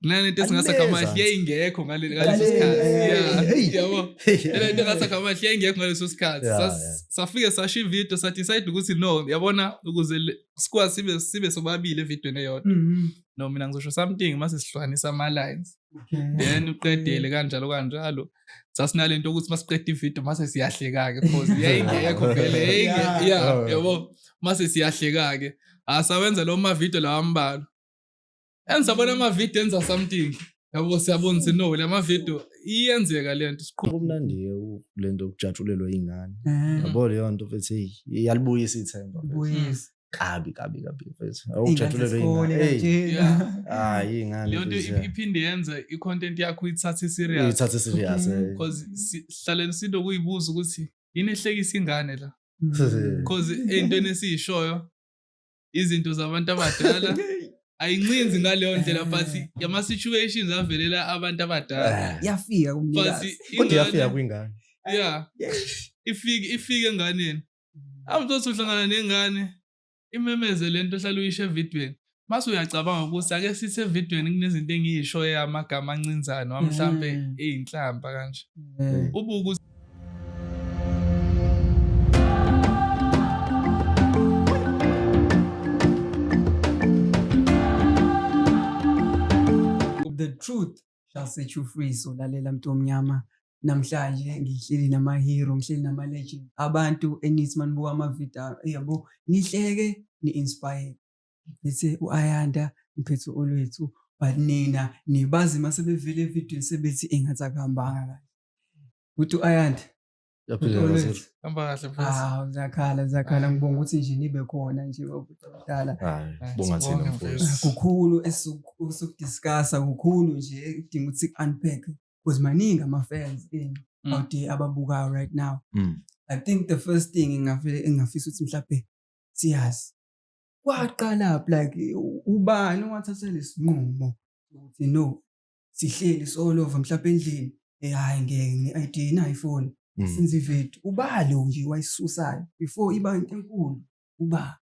lena nto esingasa kamahle yayingekho ngaleso sikhathi yabo lena nto engasa kamahle yayingekho ngaleso sikhathi safike sasho ividiyo sadecide ukuthi no yabona ukuze sikwazi sibe sibe sobabili evidweni eyodwa mm-hmm. no mina ngizosho something mase sihlukanisa ama-lines then uqedele kanjalo kanjalo sasinale nto ukuthi masiqeda ividiyo mase siyahleka-ke cause yayingekho vele yayinge ya oh. yabo mase siyahleka-ke asawenza ah, lo mavidiyo lawa ambalwa engisabona amavidiyo enza something yabo siyabona ukuthi no la mavidiyo iyenzeka le nto siqhubumnandi le nto yokujatshulelwa iy'ngane eh. yabo leyo nto futhi iyalibuyisa ithemba kabi kabi kabi mfethu hayi ingane iphinde yenza i-content yakho ithathe serious ithathe serious eh. because sihlaleni sinto kuyibuza ukuthi yini ehlekisa ingane la because ey'ntweni esiyishoyo izinto zabantu abadala ayincinzi ngaleyo ndlela but eh. yama-situations avelela abantu abadala eh. yafika kumnikazi kodwa yafika kwingane yeah ifike ifike enganeni awuzothi uhlangana nengane imemeze lento ohlala uyisho evidweni mase uyacabanga ukuthi ake sithi evidweni kunezinto engiyisho amagama ancinzane wamhlampe mm. eyinhlamba kanje mm. ubuku the truth Shall set you free so lalela mntu omnyama namhlanje ngihleli nama-hero ngihleli nama-legend abantu enithi manibuka amavidiyo yabo nihleke ni-inspire ngithe u-ayanda ngiphethe olwethu but nina nibazi uma sebevele evidweni sebethi engathi akuhambanga kahle ukuthi u-ayanda Yaphila kahle. Hamba kahle mfethu. Ah, zakhala zakhala ngibonga ukuthi nje nibe khona nje bakudala. Hayi, bonga thina mfethu. Kukhulu esukudiscussa kukhulu nje kudinga ukuthi unpack because maningi ama fans in mm. out there ababukayo right now. Mm. I think the first thing ngingafile engafisa ukuthi mhlawumbe siyazi. Kwaqala like ubani owathatha lesinqumo ukuthi no sihleli solova mhlawumbe endlini eh hayi ngeke ngi-ID nayi phone Mm. since ivedu uba lo nje wayisusayo before iba enkulu uba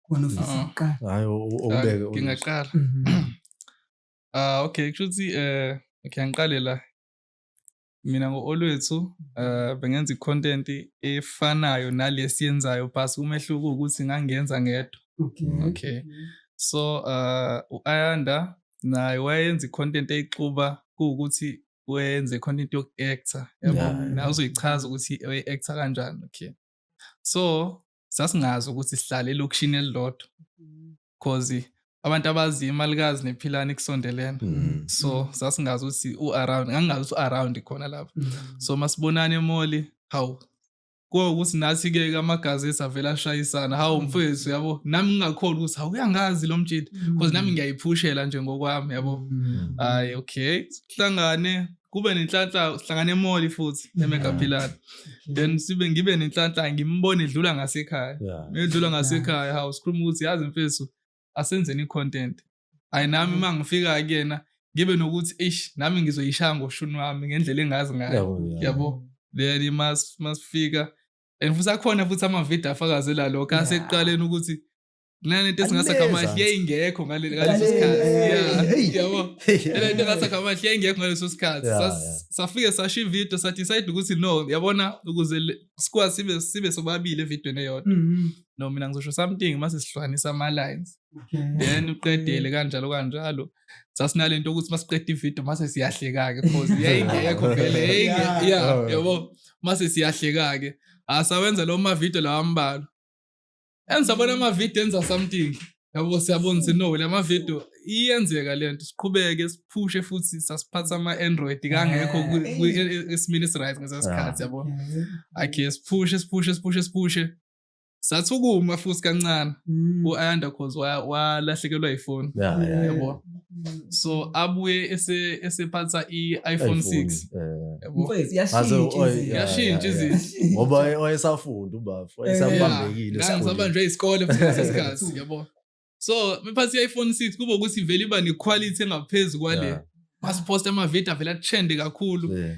khona ofisa Ah. kuqala Hayi o- o- okubeke. u- ngingaqala Mhm. ah okay kusho ukuthi eh okay angiqale la mina ngo-olwethu um bengenza i-content efanayo nale esiyenzayo bas umehluko ukuthi ngangenza ngedwa okay so um u-ayanda naye wayenza i-content eyixuba kuwukuthi wenze i-content yoku-acta yabo naye uzoyichaza ukuthi oyi-acta kanjani okay so sasingazi ukuthi sihlale elokishini elilodwa cause abantu abazi imali kazi nephilani kusondelene mm. so sasingazi ukuthi u-around ngangingazi ukuthi u-around khona lapho mm. so masibonane emoli hawu kuwo ukuthi nathi-ke amagazesi avele ashayisana hawu mm. mfethu yabo nami ngingakhona ukuthi hawu uyangazi lo mjidi bcause nami ngiyayiphushela nje ngokwami yabo hhayi okay sihlangane kube nenhlanhla sihlangane emoli futhi emegaphilana then sibe ngibe nenhlanhla ngimbone edlula ngasekhaya edlula ngasekhaya hawu sikhuluma ukuthi yazi mfethu asenzeni i-content ayi nami uma mm. ngifika kuyena ngibe nokuthi ish nami ngizoyishaya ngoshuni wami ngendlela engazi ngayo yabo then masifika and futhi akhona futhi amavidiyo afakazela lokho aseqaleni ukuthi kulena nto esingasa kamahle yayingekho ngaleso sikhathi yabo lena nto engasa kamahle yayingekho ngaleso sikhathi safike sasho ividiyo sadecide ukuthi no yabona ukuze sikwazi sibe sibe sobabili evidiyweni eyodwa mm-hmm. no mina ngizosho something mase sihlukanisa ama-lines then uqedele kanjalo kanjalo sasinale nto ukuthi masiqeda ividiyo mase siyahleka-ke cause yayingekho vele ya yabo mase siyahleka-ke asawenza ah, lawo mavidiyo lawa ambalwa Engisabona ama video enza something. Yabo siyabona ukuthi no lama video iyenzeka lento siqhubeke siphushe futhi sasiphatha ama Android kangekho esimile right ngesasikhathi yabo. Okay siphushe siphushe siphushe siphushe. Sathukuma futhi kancane. Mm. U-Ayanda cause walahlekelwa ifoni. Yabo. so abuye ese- esephatha i-iphone 6 Eh, yabo? Mfowethu, yashintsha Aze, izinto. oy, yeah. yashintsha yeah, yeah. izinto ngoba waye- wayesafunda ubafo Eh, wayesabambekile esikoleni. ngisabanjwe isikole futhi ngaleso sikhathi yabo so mephathi i-iphone 6 kube ukuthi vele iba ne-quality engaphezu kwale Yeah, masiphosta amavidiyo avele athende kakhulu yeah.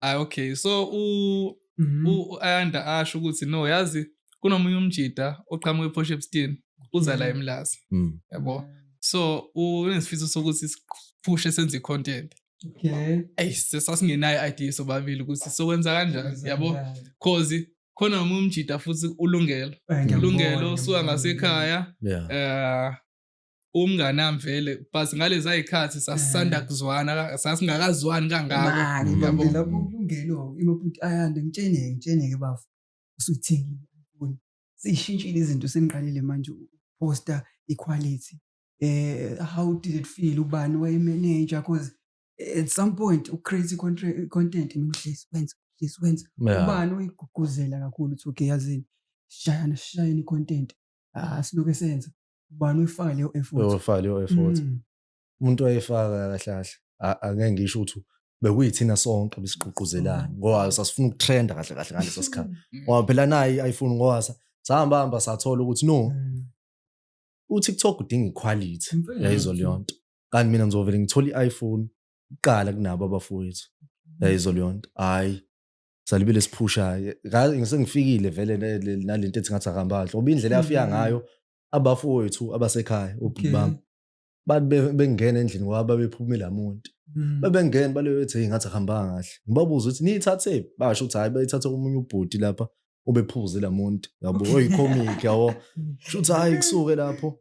hayi okay so u Mhm. u-ayanda asho ukuthi no yazi kunomunye umjida oqhamuka ephosha ebustini uza la Mhm. emlazi Mm. yabo so unesifiso sokuthi siphushe senze i-content Okay. eyi sesasingenayo i-idea sobabili ukuthi sokwenza kanjani yabo cause khona nomunye umjida futhi ulungelo Eh, ngiyakubona, ulungelo usuka ngiyakubona. ngasekhaya Yeah. eh umnganami vele but ngalezi ayikhathi sasisanda eh. kuzwana sasingakazwani kangakokulungelengitsheneke bafo usuthengile siyishintshile izinto seniqalile manje ukuposta iquality eh how did it feel ubani wayemeneja because at some point ucrazy content ngihlezi wenza uhlezi wenza ubani uyigqugquzela kakhulu ukuthi okay yazini shayana shayana icontent ah siloke senza ubani uyifaka leyo effort uyifaka leyo effort mm. umuntu wayefaka kahle kahle angeke ngisho ukuthi bekuyithina sonke besigqugquzelana mm. ngoba sasifuna ukutrenda kahle kahle ngaleso sikhathi mm. ngoba phela naye ayifuni ngoba sahamba hamba sathola ukuthi no uTikTok udinga iquality yayizolo yonto kanti mina ngizovele ngithole i-iPhone kuqala kunabo abafowethu yayizolo yonto hayi salibile siphushayo ngisengifikile vele nalento ethi ngathi akahamba kahle ngoba indlela yafika mm-hmm. ngayo abafowethu abasekhaya ubhuti bami bathi bengena endlini kwaba bephumile amuntu mm. babengena baleyo ethi hey ngathi ahambanga kahle ngibabuza ukuthi niyithathe basho ukuthi hayi bayithathe komunye ubhuti lapha ubephuze lamuntu yabo oyicomic yabo mm. shuthi hayi kusuke lapho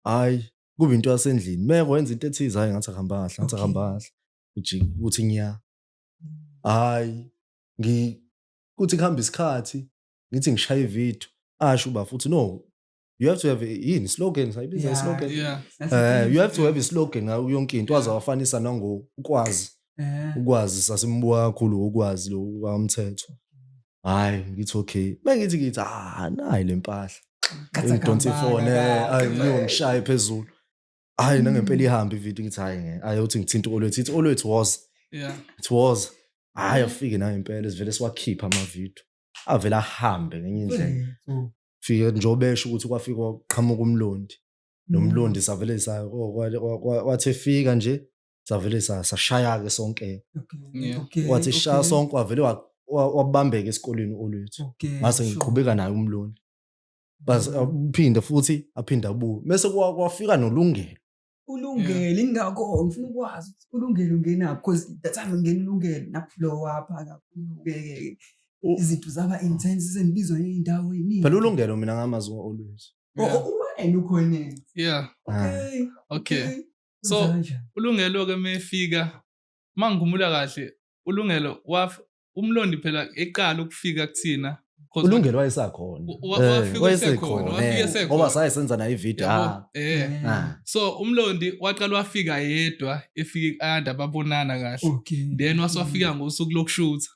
hayi kube into yasendlini meko wenza into ethize hayi ngathi ahamba kahle ngathi ahamba kahle uthi ngiya hayi ngi kuthi kuhamba isikhathi ngithi ngishaye ivideo asho uba futhi no you have to have yini slogan sayibiza yeah, slogan yeah. uh, you have to have a slogan ngayo yonke into waze wafanisa nangokwazi eh. ukwazi sasimbuka kakhulu ukwazi lo wamthetho hayi ngithi okay bengithi ngithi ah nayi lempahla ngidonsa ifone ayi ngiyongishaya phezulu hayi nangempela mm. ihambe ivideo ngithi hayi ngeke hayi uthi ngithinta uolwethu ithi uolwethu was yeah it was hayi mm. afike nangempela sivele siwakhipha amavideo avele ahambe ngenye indlela mm. fike njengoba esho ukuthi kwafika kwaqhamuka umlondi nomlondi savele sa oh, wathi efika nje savele sashaya-ke sonke wathi shaya sonke wavele wabambeka esikoleni olwethu ngase ngiqhubeka naye umlondi uphinde futhi aphinde abuye mese kwafika nolungelo ulungele ingakho ngifuna ukwazi ukuthi ulungele ungenaphi because that time ngingena ulungele naphulowapha kakhulu-ke izinto zaba intense sengibizwa ngey'ndawo ey'ningi phela ulungelo mina ngamazi always uwena ukhoneni yeah okay okay so ulungelo-ke uma efika uma ngigumula kahle ulungelo umlondi phela eqala ukufika kuthina ulungelo wayesakhona eh, wayesekhona ngoba saye senza nayo ividiyo ah. eh. ah. so umlondi waqala wafika yedwa efika ianda babonana kahle then waswafika mm. ngosuku lokushutha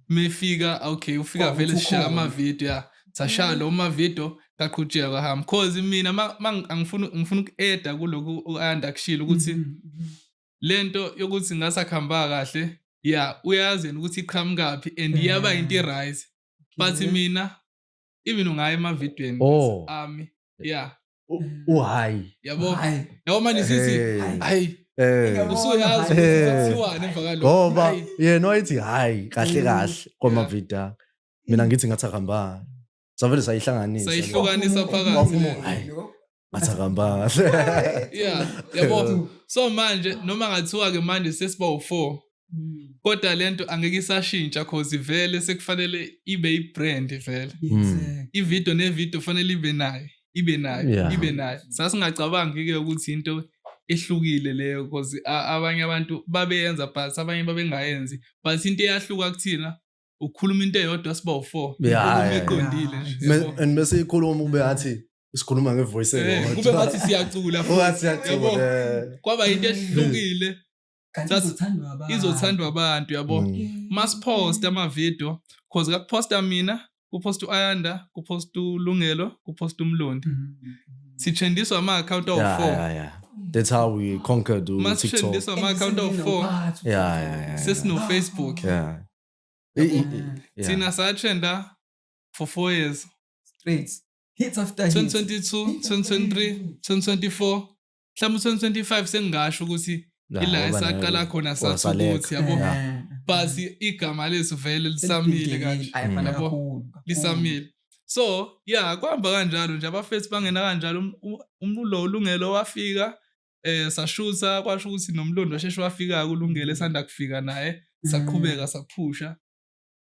mefika okay ufika vele sishaya amavidiyo ya sashaya lo mavidiyo kaqhutsheka kwahamba cause mina angifuna uku-eda kuloku u-anda kushilo ukuthi mm, mm, lento yokuthi ngasakhamba kahle ya uyazi yena ukuthi iqhamukaphi and iyaba into eh. irise but mina even ungaye emavidweni oh. ami ya uhayi yabo yabo manje sithi hayi eh. usuyazi eh. kuthiwani emva kalokho ngoba yena wayethi hayi kahle mm. kahle kwamavida mina ngithi ngathi akahambanga savele sayihlanganisa sayihlukanisa phakathi ngathi akambanga yeah yabo so manje noma ngathiwa ke manje sesiba u4 hmm. kodwa lento angeke isashintsha cause ivele sekufanele ibe ibrand vele hmm. ivideo nevideo fanele ibe nayo ibe nayo ibe nayo sasingacabangi ke ukuthi into ehlukile leyo because abanye abantu babeyenza but abanye babengayenzi but into eyahluka kuthina ukhuluma into eyodwa siba u4 yeah, iqondile and bese ikhuluma kube athi sikhuluma ngevoice eh, elodwa kube ngathi siyacula futhi siyacula kwaba into ehlukile izothandwa abantu yabo mm. masipost ama video cause kakuposta mina kupost uayanda kupost ulungelo kupost umlondi mm-hmm. sithendiswa ama account of 4 That's how we conquered TikTok. Masithendiswa ama account of 4. Yeah, yeah, yeah. Sesino Facebook. Yeah. thina satrenda for four years straight hits after 2022 2023 2024 mhlawumbe 2025 sengingasho ukuthi ila esaqala khona sathi ukuthi yabo eh. but igama lethu vele lisamile kanje lisamile so ya kuhamba kanjalo nje abafethu bangena kanjalo um, um, umlo ulungelo wafika eh sashutha kwasho ukuthi nomlondo sheshe wafika kulungele sanda kufika naye saqhubeka saphusha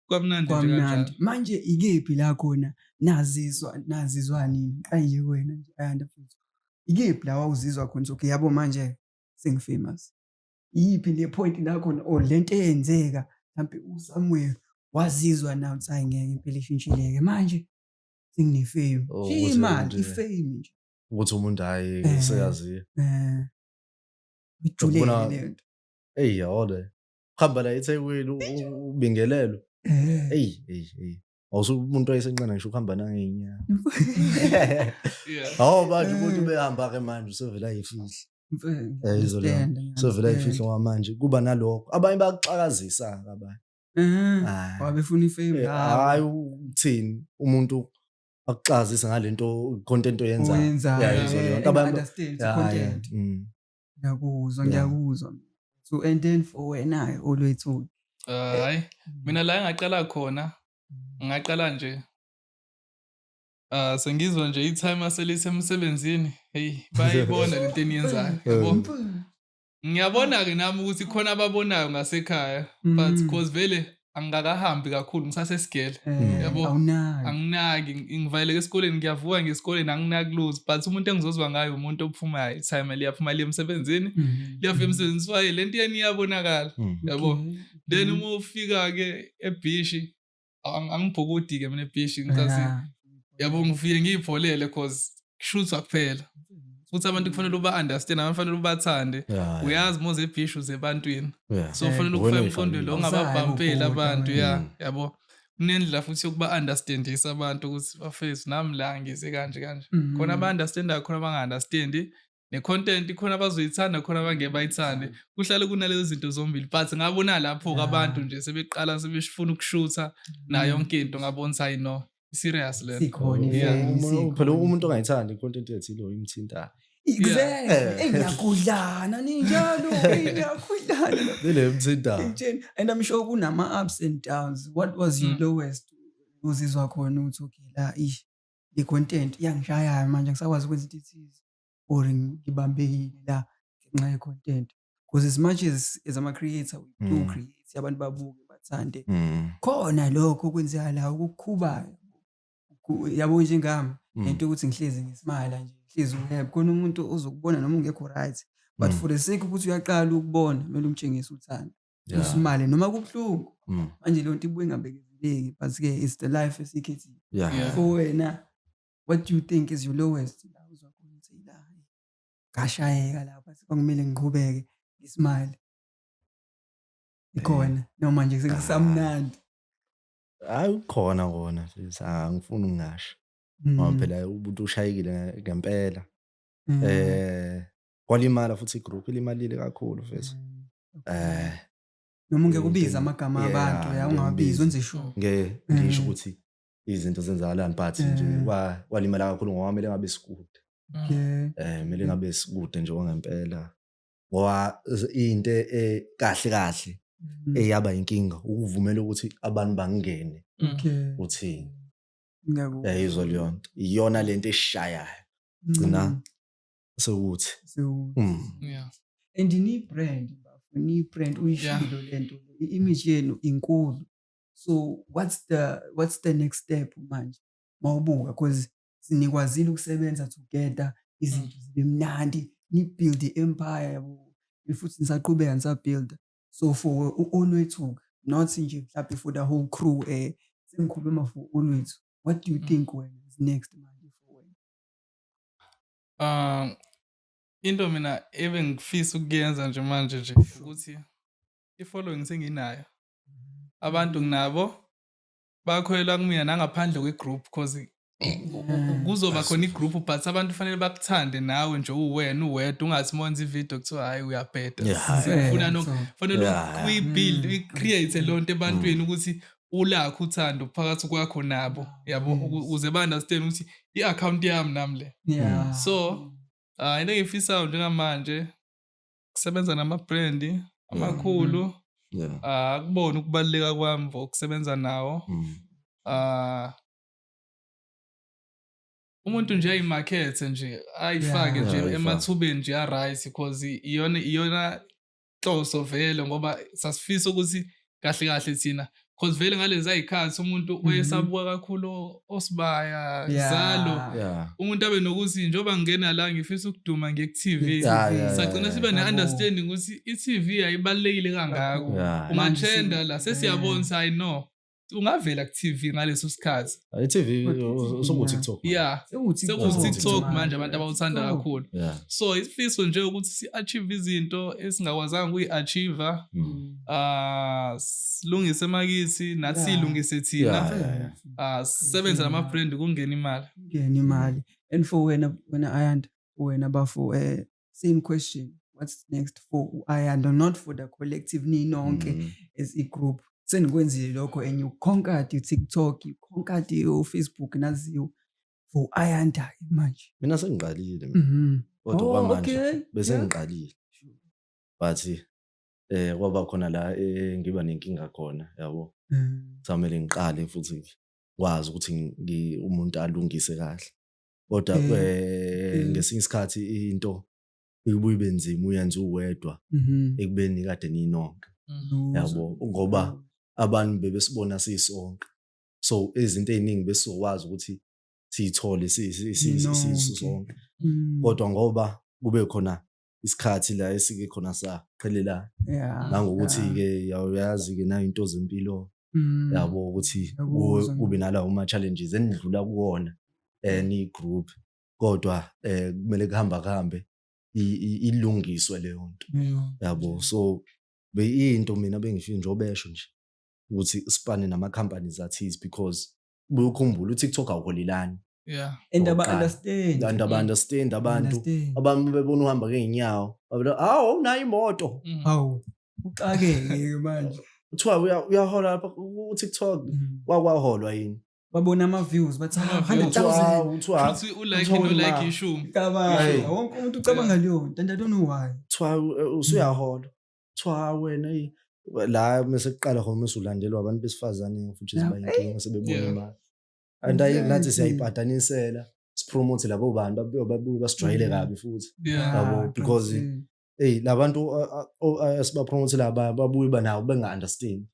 kwamnandi nje kanjalo manje ikephi la khona nazizwa nazizwa nini ayiye wena nje ayanda futhi ikephi la wawuzizwa khona so yabo manje sengifamous iyiphi le point la khona or oh, lento eyenzeka mhlambe uSamuel wazizwa nawo ukuthi hayi ngeke impela ishintshileke manje sengine-fame oh, imali ifame nje ukuthi umuntu hayi Eh. seyaziyo Eh. Ujule Ukubona- yini leyo nto? eyi yawole uhamba la ethekwini u- u- ubingelelwe Eh. eyi eyi eyi awusuke umuntu wayesenqena ngisho ukuhamba nangenyanga hawu manje umuntu ubehamba-ke manje usevele ayifihla Mfana, Eh, izolo yami. understand, I usevele understand. ayifihla kwamanje kuba nalokho abanye bakuxakazisa-ke abanye Eh, Hayi. wabefuna ifame Eh, hhayi ukuthini umuntu akuxazise ngalento content oyenzayo Oyenzayo, Yeah, yeah, izolo yeah, yonke and abantu- understand Yeah, content. yeah, mm. ngiyakuzwa Yeah. ngiyakuzwa so and then for wena olwethu Eh, hayi mina la engaqala khona ngingaqala nje Ah sengizwa nje i-time aselisemsebenzini hey bayayibona lento eniyenzayo yabo ngiyabona-ke nami ukuthi khona ababonayo ngasekhaya but mm. cause vele angikakahambi kakhulu ngisasesigele eh, yabo anginaki ngivaleleke esikoleni ngiyavuka ngesikoleni anginaki lose but umuntu engizozwa ngayo umuntu ophumayo time liyaphuma liye emsebenzini mm-hmm. liyafika emsebenzini swaye le nto yeni iyabonakala mm. yabo then uma ufika-ke ebhishi angibhukudi-ke mina ebhishi ngicasi yabo ngifike ngiyipholele cause kushuthwa kuphela futhi abantu kufanele uba-understand abantu kufanele ubathande uyazi moze ebhishi uze ebantwini so kufanele ukufaka emqondweni lo ungababhampeli abantu ya mm. yabo kunendlela futhi yokuba-understandisa abantu ukuthi bafethu nami la ngize kanje kanje mm. khona aba-understandayo khona abangaunderstandi ne-content ikhona abazoyithanda khona abangeke bayithande kuhlale kunalezo zinto zombili but ngabona lapho-ke abantu nje sebeqala sebefuna ukushutha nayo mm. yonke into ngabona ukuthi hayi no serious le phela umuntu ongayithandi i-content ethile imthintayo Exactly. Ngiyakudlana ninjalo, ngiyakudlana. Lele mthintayo. And I'm sure kunama ups and downs. What was your mm. lowest? Uzizwa khona ukuthi okay la ish le content iyangishayayo manje angisakwazi ukwenza into ethize or ngibambekile la ngenxa ye-content because as much as as ama-creator we do mm. create abantu babuke bathande mm. khona lokho okwenzakala okukhubayo yabo njengami mm. lento ukuthi ngihlezi ngisimala nje ngihlezi uheb khona umuntu ozokubona noma ungekho right but mm. for the sake ukuthi uyaqala ukubona kumele umtshengise uthando Yeah. usimale noma kubuhlungu Mm. manje leyo nto ibuye ingabekezeleki but ke it's the life esiyikhethile Yeah. Yeah. for wena what do you think is your lowest la uzwa khona ukuthi "Eyi, la ngashayeka lapha sekwangimele ngiqhubeke ngisimile ikhona noma nje sekusamnandi Hayi ukhona kona sis. Ah, angifuni ngingasho. Mm, Ngoba phela umuntu ushayekile ngempela. mm, Eh kwalimala futhi igroup ilimalile kakhulu mfethu. mm, eh noma ungeke ubize amagama Yeah, abantu ya ungawabizi ngiyabiza. wenze sure nge ngisho Mm. ukuthi izinto zenzakalani but nje Mm. wa- walimala kakhulu ngoba kumele ngabe sikude yeah eh kumele ngabe sikude nje wangempela ngoba z- into e- kahle kahle Mm. eyaba inkinga ukuvumela ukuthi abantu bangene okay uthini ngiyakuzwa yayizwa leyo nto iyona lento eshayayo gcina Mm. sewuthi sewuthi mm. yeah and ni brand ni brand uyishilo lento i image yenu inkulu so what's the what's the next step manje mawubuka because sinikwazile ukusebenza together izinto mm. zibe mnandi ni build i empire yabo futhi nisaqhubeka nisabuilda so for u-olwethu not nje mhlawumbe for the whole crew eh sengikhuluma for olwethu what do you mm. think wena is next manje for wena Ah, into mina ebengifisa ukuyenza nje manje nje ukuthi i-following senginayo. Mm-hmm. Abantu nginabo bakholelwa kumina nangaphandle kwe-group cause mm-hmm. kuzoba khona i-group but abantu kufanele bakuthande nawe nje uwena uwedwa ungathi uma wenza i-video kuthiwa hhayi uyabheda. Yeah, hhayi. Sifuna no kufanele Yeah. uyi-build, uyi-create leyo nto ebantwini ukuthi ulakho uthando phakathi kwakho nabo yabo uze ba-understand ukuthi i-akhawunti yami nami le so hayi into engiyifisayo njengamanje kusebenza nama-brandi amakhulu mm-hmm. ah, akubona ukubaluleka kwami for ukusebenza nawo mm. ah, umuntu nje ayimakhethe nje ayifake nje emathubeni nje a-right because iyona iyona inhloso vele ngoba sasifisa ukuthi kahle kahle thina cause vele ngalezi ayikhathi umuntu mhm. oyesabuka kakhulu osibaya zalo umuntu abe nokuthi njengoba ngingena la ngifisa ukuduma nge-tv sagcina siba ne-understanding ukuthi i-tv ayibalulekile kangako umantshenda la sesiyabona ukuthi hayi no ungavela ku TV ngaleso sikhathi I TV usungu TikTok yeah Sekungu TikTok. TikTok manje abantu abawuthanda Oh. kakhulu yeah so isifiso nje ukuthi si achieve izinto esingakwazanga ukuyi achieve Mm. ah silungise makithi nathi Yeah. silungise Yeah, thina yeah, yeah. ah sebenza nama brand kungena imali Ngena imali. And for wena wena Ayanda wena bafo eh same question what's next for u-ayanda not for the collective ninonke mm. as i-group senikwenzile lokho and you conquered tiktok you conquered ufacebook naziwo for u-ayanda manje mina sengiqalile mhm. kodwa oh, kwamanje bese ngiqalile but eh kwaba khona la eh, ngiba nenkinga khona yabo mm. samele ngiqale futhi ngikwazi ukuthi umuntu alungise kahle kodwa Eh, eh, eh. ngesinye isikhathi into ibuye ibe nzima uyenza uwedwa Mhm. ekubeni kade ninonke Mhm. yabo ngoba abantu bebesibona sisonke so izinto eziningi besizokwazi ukuthi siyithole si- si- si- si- si- Ninonke. sisonke Mm. kodwa ngoba kube khona isikhathi la esike khona saqhelelana yeah nangokuthi-ke yazi-ke nayo into zempilo mm. yabo ukuthi kube nalawo ma-challenges enidlula kuwona um niyi-group kodwa um kumele kuhamba kuhambe ilungiswe leyo nto yabo so beyinto mina bengifike njobesho nje ukuthi sipane nama-companies athize because buye ukhumbule uTikTok awuholilani yeah and aba Okokuqala. understand and aba understand abantu Understand. abantu bebona uhamba ngeenyawo babona awu nayo imoto Mm. hawu uxakeke manje kuthiwa uya- uyahola lapha uTikTok Mm. wakwaholwa yini babona ama views bathi Ama "Ah, views. 100000 kuthiwa kuthiwa Futhi ulike Uthola nolike imali. ishumi cabanga Hey. wonke umuntu ucabanga leyo nto and i don't know why kuthiwa u- usuyahola kuthiwa ha wena eyi la mese kuqala khona mese ulandelwa abantu besifazane futhi Yeah. sibayinkinga sebebona Yeah. imali and ayi nathi Exactly. siyayibhadanisela sipromote labo bantu babuye babuye basijwayele Mm. kabi futhi Yeah. Yabo, Ah, because- qinisekile. eyi labantu esibapromotela abaya babuye banawo benga-understand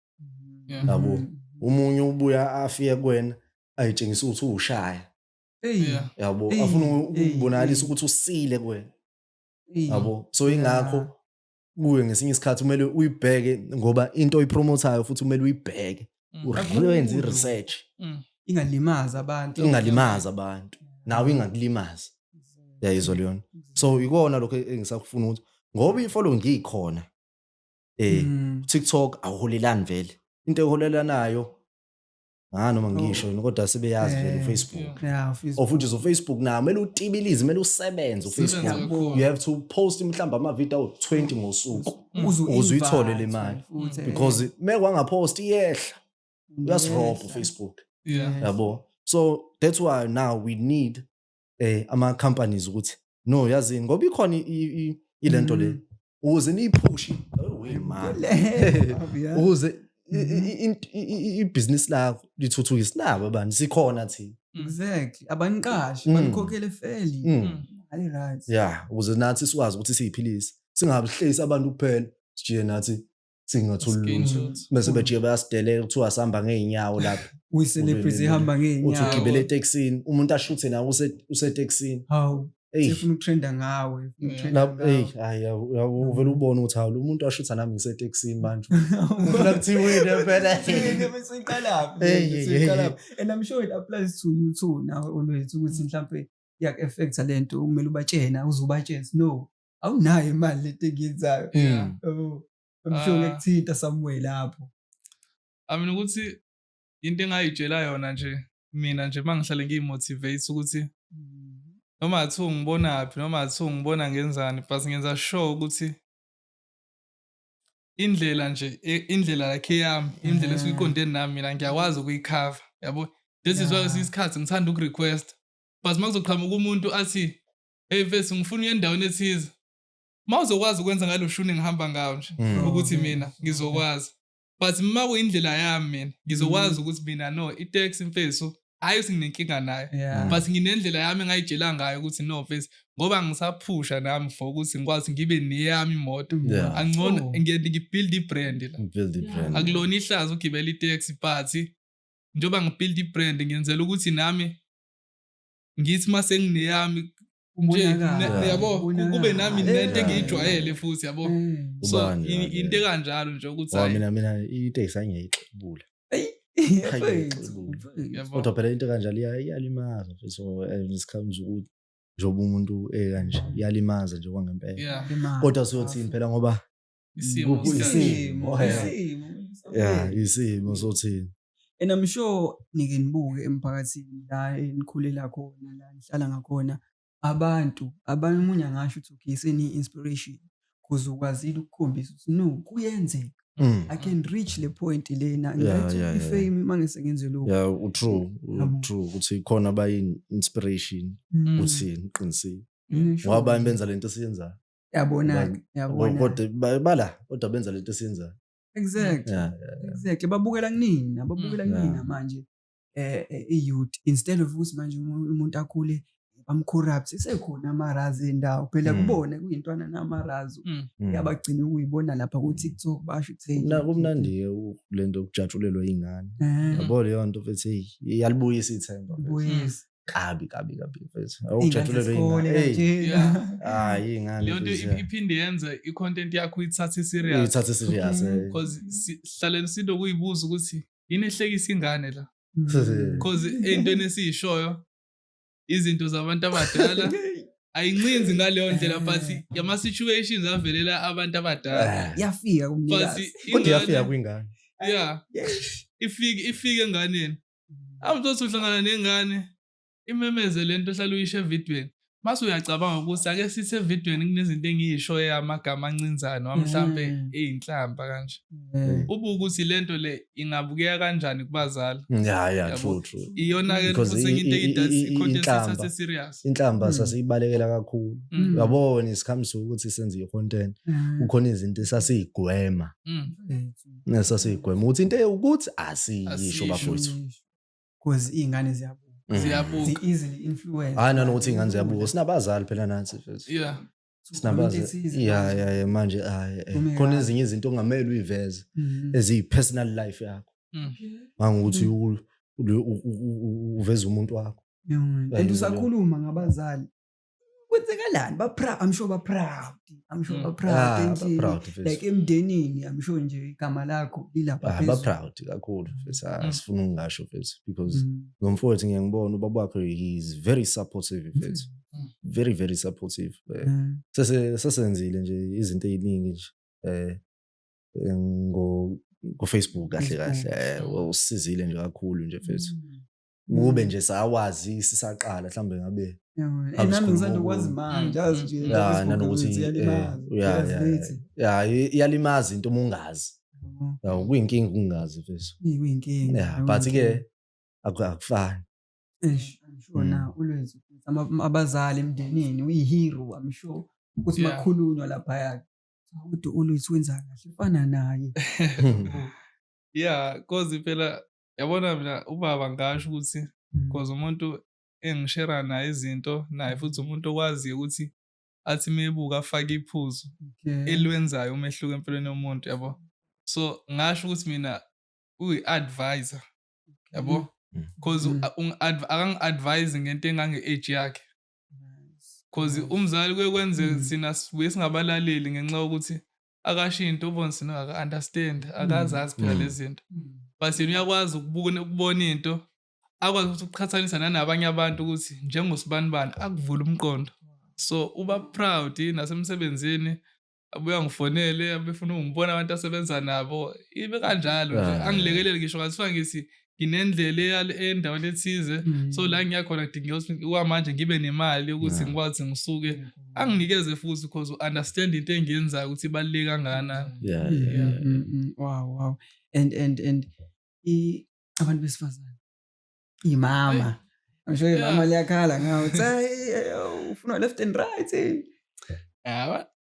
Yeah. yabo Mhm. omunye ubuya afike kuwena ayitshengisa ukuthi uwushaya Eyi, Yeah. yabo Eyi, afuna eyi, ukubonakalisa eyi. ukuthi usile kuwena eyi. yabo so ingakho Yeah. kuwe ngesinye isikhathi kumele uyibheke ngoba into oyipromotayo futhi kumele uyibheke mm. uyenze i-research mm. ingalimaza abantu ingalimaza abantu nawe ingakulimaza yayizwa leyona so ikona lokho engisakufuna ukuthi ngoba i-follow ngiyikhona eh mm. TikTok awuholelani vele into eholelanayo ngani noma ngisho yini kodwa sebeyazi vele Eh, ufacebook yeah. Yeah, ufacebook. of which is ufacebook nawo kumele utibilize kumele usebenze Sebenze ufacebook kakhulu. you have to post mhlawumbe amavidiyo awu-20 ngosuku Uze ukuze uyithole le invite, mali futhi, eh, because me kwangaphost iyehla uyasirobha iyehla. ufacebook Yeah. yabo so that's why now we need eh ama companies ukuthi no yazini ngoba ikhona ilento le mm. ukuze niyiphushi ukuze ibhizinisi lakho lithuthuke sinabo abantu sikhona thina exactly abaniqashi mm. banikhokhele feli mm. hayi right ya ukuze nathi sikwazi ukuthi siyiphilise singabihleyisi abantu kuphela sijike nathi singathi uluntu bese bejike bayasidelela kuthiwa sihamba ngeenyawo lapho uyiselebrity ihamba ngeenyawo uthi ugibele etekisini umuntu ashuthe nawe usetekisini hawu sifuna ukutrenda ngawe uvele ubone ukuthi hawu lo muntu washutha nami ngisetekisini manje ufuna kuthiwini phela and i'm sure it applies to you too nawe olwethu ukuthi mhlawumbe iyak-effecta le nto kumele ubatshena uze ubatshene no awunayo imali lento engiyenzayo mm. yabo ngisho ah. ngekuthinta somewhere lapho i mean ukuthi into engayitshela yona nje mina nje uma ngihlale ngiyimotivate ukuthi noma athiwa ungibonaphi noma athiwa ungibona ngenzani but ngenza sure ukuthi indlela nje e, indlela yakhe yami indlela esuke iqonde nami mina ngiyakwazi ukuyikhava yabo this is why isikhathi ngithanda ukurequest but uma kuzoqhamuka umuntu athi hey mfethu ngifuna uye endaweni ethize uma uzokwazi ukwenza ngalo shuni ngihamba ngawo nje Mm. ukuthi mina ngizokwazi but uma kuyindlela yami mina ngizokwazi ukuthi mina no itex mfethu hhayi ukuthi nginenkinga nayo Yeah. but nginendlela yami engayitshela ngayo ukuthi no mfethu ngoba ngisaphusha nami for ukuthi ngikwazi ngibe neyami imoto Yeah. angcono Oh. ngiye ngibuild i-brand la Build the brand. akulona ihlazo ugibela itex party njengoba ngibuild i-brand ngenzela ukuthi nami ngithi uma sengineyami yabo kube nami nento engiyijwayele futhi yabo mm. so into ekanjalo nje ukuthi mina mina into eyisangiyayiqubula kodwa phela into kanjalo iyalimaza so ngesikhathi ukuthi njengoba umuntu ekanje iyalimaza nje kwangempela kodwa siyothini phela ngoba isimo Ku- isimo. isimo eh. Isimo. ya isimo sothini and i'm sure nike nibuke emphakathini la enikhulela khona la nihlala ngakhona abantu abanye omunye angasho ukuthi okay seni-inspiration because ukwazile ukukhombisa ukuthi no kuyenzeka Mm. i can reach le point lena Yeah, yeah, ngayithola yeah. ifame uma ngise ngenze lokhu ya utrue Yabo. utrue ukuthi khona abayi-inspiration Mm. uthini qinisile Ngisho ngoba abanye nje. benza lento esiyenzayo yabona-ke yabona kodwa ba- bala kodwa benza lento esiyenzayo exactly Yeah, yeah, yeah. exactly babukela kunina babukela Mm. kunina Yeah. manje eh eh, i-youth instead of ukuthi manje umu- umuntu akhule bamcorrupt sekhona amarazi endawo phela Mm. kubona kuyintwana namarazi Mm. yabagcina ukuyibona lapha Mm. ku-tiktok basho ukuthi hey, Kumna- kumnandi-ke u- le nto yokujatshulelwa iy'ngane Eh, yabo leyo nto futhi hey, iyalibuyisa ithemba futhi. buyisa. kabi kabi kabi mfethu awujatshulelwe ingane hayi ingane leyo nto iphinde yenze i-content yakho ithathe serious ithathe serious eh. because sihlaleni sinto kuyibuza ukuthi yini ehlekisa ingane la because ey'ntweni esiyishoyo izinto zabantu abadala ayincinzi ngaleyo ndlela but eh. yama-situations avelela abantu abadala eh. yafika kumnikazi kodwa yafika kwingane yeah ifike ifike enganeni awuzothi uhlangana nengane imemeze lento ohlala uyisho evidweni mase uyacabanga ukuthi ake sithi evidweni kunezinto engiyishoyo amagama ancinzane wamhlampe mm. eyinhlamba kanje mm. ubu ukuthi lento le ingabukeka kanjani kubazali mm, ya ya true true iyona ke futhi into eyidathi content sase serious inhlamba sasiyibalekela kakhulu yabona isikhamisa ukuthi senze icontent kukhona izinto esasiyigwema Nesasiyigwema ukuthi into ewukuthi asiyisho bafowethu. Cause izingane ziyabuka. Mm. Ziyabuka. Zi easily influence. Hayi nanokuthi izingane ziyabuka. Sinabazali phela nathi futhi. Yeah. Sinabazi. Yeah yeah yeah manje hayi. Eh. Khona ezinye izinto ongamele uyiveze mm-hmm. eziyi personal life yakho. Mm. Mangukuthi mm. uveza umuntu wakho. And usakhuluma ngabazali. kwenzekalani baproud i'm sure baproud i'm sure mm. baproud ah, and like emndenini i'm sure nje igama lakho lilapha ah, baproud kakhulu mfethu ah, mm. sifuna ukungasho mfethu because mm. ngomfowethu ngiyangibona ubaba wakho he is very supportive mfethu very very supportive eh, sese sesenzile nje izinto eziningi nje eh, eh ngo ku-facebook kahle kahle eh, usizile nje kakhulu nje mfethu kube mm. nje sawazi sisaqala mhlawumbe ngabe iyalimaza into uma ungazi oh. kuyinkinga ukungazi but-ke akufani mm. abazali emndenini uyihero i'm sure ukuthi makhulunywa laphaya kodwa ulwezi wenza kahle fana naye yeah cause phela yabona mina ubaba ngasho ukuthi because mm. umuntu engishera naye izinto naye futhi umuntu okwaziyo ukuthi athi mebuka afake iphuzu elwenzayo umehluko empilweni yomuntu yabo so ngasho ukuthi mina uyi-advisor yabo mm. because mm. akangi-advise ngento engange-age yakhe because umzali kuye kwenzeka thina sibuye singabalaleli ngenxa yokuthi akashinto ubonzini aka understand akazazi phela lezi zinto but yena uyakwazi ukubona ukubona into akwazi ukuthi ukuqhathanisa nanabanye abantu ukuthi njengosibanibani akuvula umqondo so uba proud nasemsebenzini abuya ngifonele abefuna ungibona abantu asebenza nabo ibe kanjalo nje angilekelele ngisho ngathiwa ngithi nginendlela eya endaweni ethize mm. so la ngiya khona kudingeka ukuthi kwamanje ngibe nemali ukuthi ngikwazi ngisuke anginikeze futhi because u-understand into engiyenzayo ukuthi ibaluleke kangakanani mm, mm, wow wow and and and abantu besifazane imama ngisho imama liyakhala ngawo ufuna left and right eh.